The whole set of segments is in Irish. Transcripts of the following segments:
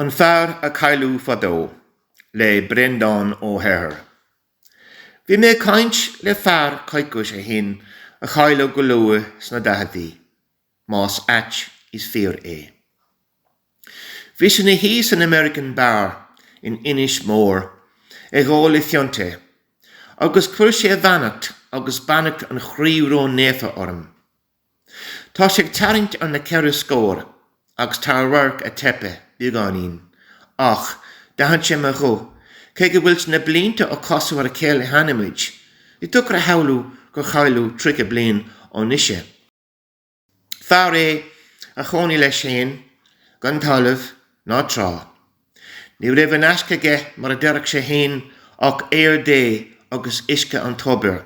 An Fear a Cailleadh Fadó le Breandán Ó hEithir. Bhí mé ag caint le fear coicís ó shin a cailleadh go luath sna daicheadaí, más ait is fíor é. Bhí sé ina shuí san American Bar in Inis Mór ag ól a phionta agus chuir sé a bheannacht agus beannacht an Chroí Ró-Naofa orm. Tá sé ag tarraingt ar na ceithre scór agus tá a radharc ag teipeadh beagáinín ach d'aithin sé mo ghuth, cé go bhfuil na blianta ó casadh ar a chéile cheana muid. Ní deacair a shamhlú gur cailleadh tríocha bliain ó anois é. Fear é a chónaigh leis féin gan talamh ná trá. Ní raibh in aisce aige mar a deirfeadh sé fhéin ach aer Dé agus uisce an tobair.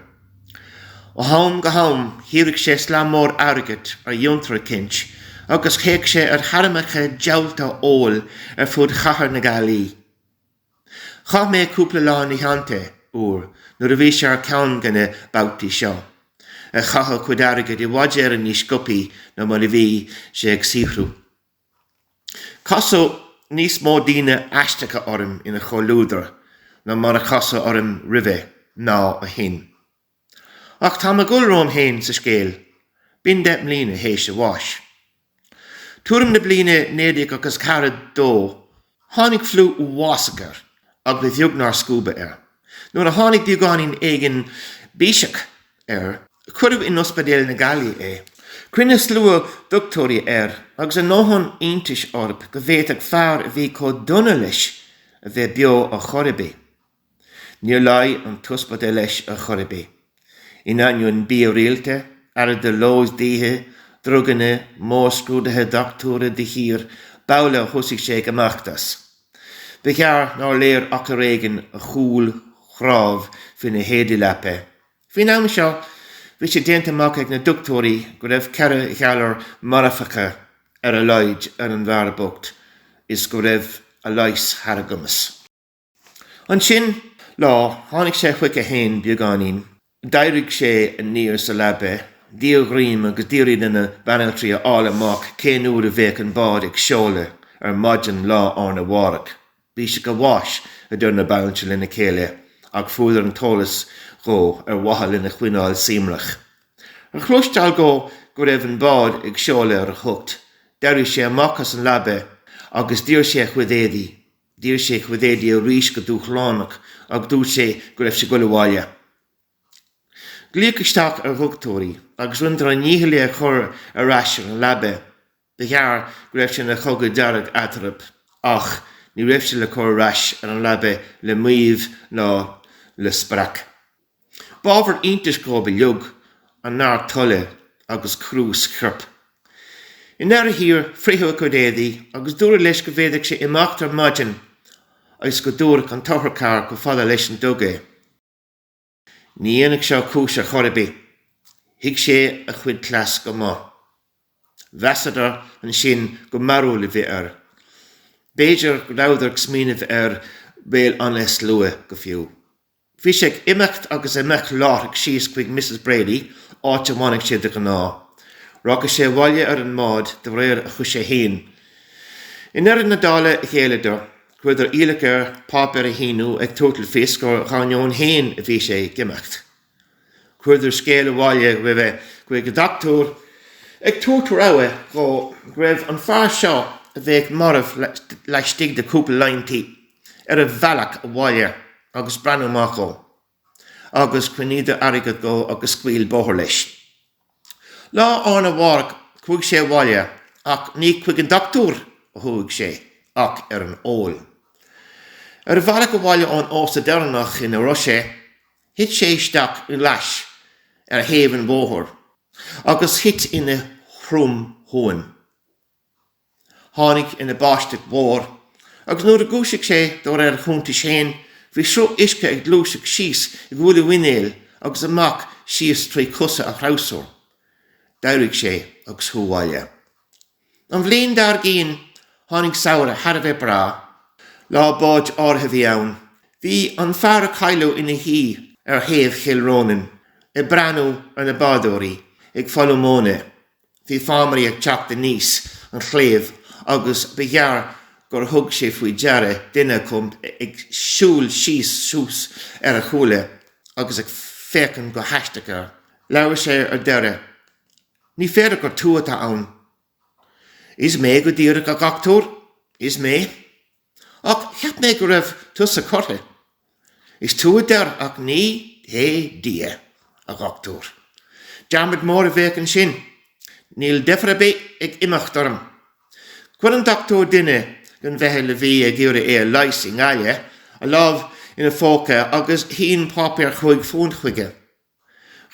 Ó am go ham shaothraíodh sé slám mór airgid ar fhiontar eicínt agus théadh sé ar théarmacha diabhalta óil ar fud chathair na Gaillimhe. Chaith mé cúpla lá ina theannta uair nuair a bhí sé ar cheann de na babhtaí seo, ag caitheamh a chuid airgid i bhfad Éireann níos sciobthaí ná mar a bhí sé ag saothrú. Casadh níos mó daoine aisteacha orm ina chomhluadar ná mar a casadh orm roimhe ná ó shin. Ach tá mé ag dul romham fhéin sa scéal, b'in deich mbliana théis a bháis. Tuairim na bliana 1942 Tháinig fliú uafásach air agus ba bheag nár scuabadh é. Nuair a tháinig beagáinín éigin biseach air cuireadh in Ospidéal na Gaillimhe é. Chruinnigh slua dochtúirí air agus a ndóthain iontais orthu go bhféadfadh fear a bhí chomh dona leis a bheith beo ar chor ar bith. Níor réitigh an t-ospidéal leis ar chor ar bith. In ainneoin bia rialta, aire de ló is d'oíche, druganna, mórscrúduithe dochtúra de shíor b'amhlaidh a thosaigh sé ag imeacht as. Ba ghearr nár léir ach ar éigin a chual cnámh faoi na héadaí leapa. Faoin am seo bhí sé déanta amach ag na dochtúirí go raibh ceithre ghalar marfacha ar a laghad ar an bhfear bocht is go raibh a leigheas thar a gcumas. Ansin lá tháinig sé chuige fhéin beagáinín, d'éirigh sé aniar sa leabaidh, d'iarr greim agus d'fhiafraigh de na banaltraí a fháil amach cén uair a bheadh an bád ag seoladh ar maidin lá arna mhárach. Biseach an bháis, a deir na banaltraí lena chéile, ach fuaireadar an t-eolas dhó ar mhaithe lena choinneáil suaimhneach. Ar chloisteáil dhó go raibh an bád ag seoladh ar a hocht, d'éirigh sé amach as an leabaidh agus d'iarr sé a chuid éadaí. D'iarr sé a chuid éadaí arís go dúshlánach agus dúirt sé go raibh sé ag dul abhaile. Glaodh isteach ar dhochtúirí agus rinneadar a ndícheall é a chur ar ais ar an leaba. Ba ghearr go raibh sé ina chogadh dearg eatarthu ach ní raibh sé le cur ar ais ar an leaba le maíomh ná le spreacadh. B'ábhar iontais dóibh uilig a neart toile agus cruas a choirp. I ndeireadh thiar fritheadh a chuid éadaí agus dúradh leis go bhféadfadh sé imeacht ar maidin agus go dtabharfadh an t-otharcharr chomh fada leis an dug é. Ní dhéanfadh seo cúis ar chor ar bith. Thuig sé a chuid cleas go maith. Mheasadar ansin gur mearbhall a bhí air. B'fhéidir go rabhadar ag smaoineamh ar Bhéal Átha na Sluaighe go fiú. Bhí sé ag imeacht agus ag imeacht láithreach síos chuig Misses Brady, áit a bhfanadh sé de ghnáth. Rachadh sé abhaile ar an mbád de réir a choise fhéin. I ndeireadh na dála ghéilleadar. Chuireadar iallach air páipéar a shíniú ag tabhairt le fios gur dhá dheoin fhéin a bhí sé ag imeacht. Chuireadar scéal abhaile roimhe chuig a dhochtúir ag tabhairt rabhadh dhó go raibh an fear seo a bheadh marbh laistigh de chúpla laethanta ar a bhealach abhaile agus breathnú amach dhó agus chruinníodar airgead dhó agus scaoil bóthar leis. Lá arna mhárach chuaigh sé abhaile ach ní chuig an dochtúir a chuaigh sé ach ar an ól. Ar a bhealach abhaile ón ósta deireanach ina raibh sé, thit sé isteach i gclais ar thaobh an bhóthair agus thit ina thromshuan. tháinig ina báisteach mhór agus nuair a dhúisigh sé de réir a chuntais féin bhí sruth uisce ag gluaiseacht síos i gcúl a mhuinéil agus amach síos trí chosa a threabhsar. D'éirigh sé agus chuaigh abhaile. An bhliain dár gcinn tháinig samhradh thar a bheith breá. Lá báid áirithe a bhí ann. Bhí an fear a cailleadh ina shuí ar chéibh Chill Rónáin ag breathnú ar na bádóirí ag folmhú móna Bhí fámairí ag teacht aníos an chéibh agus ba ghearr gur thug sé faoi deara duine acu ag siúl síos suas ar a chúla agus ag féachaint go haisteach air. Labhair sé ar deireadh. Ní féidir gur tú atá ann. Is mé go díreach, a dhochtúir, is mé. Ach cheap mé go raibh tusa curtha. Is tú a deir ach ní hé Dia, a dhochtúir. Dearmad mór a bheadh ansin. Níl deifir ar bith ag imeacht orm. Chuir an dochtúir duine den mheitheal a bhí ag iarraidh é a leigheas i nGaillimh a lámh ina phóca agus shín páipéar chúig phunt chuige.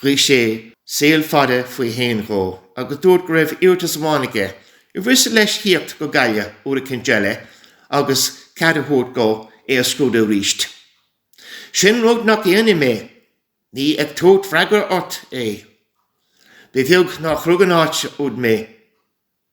Ghuigh sé saol fada faoi shéan dhó agus dúirt go raibh iarratas amháin aige. impí a dhéanamh leis thíocht go Gaillimh uair eicint eile agus cead a thabhairt dhó é a scrúdú arís. Sin rud nach ndéanfaidh mé. Ní ag tabhairt freagra ort é. Ba bheag nár chrog an áit úd mé.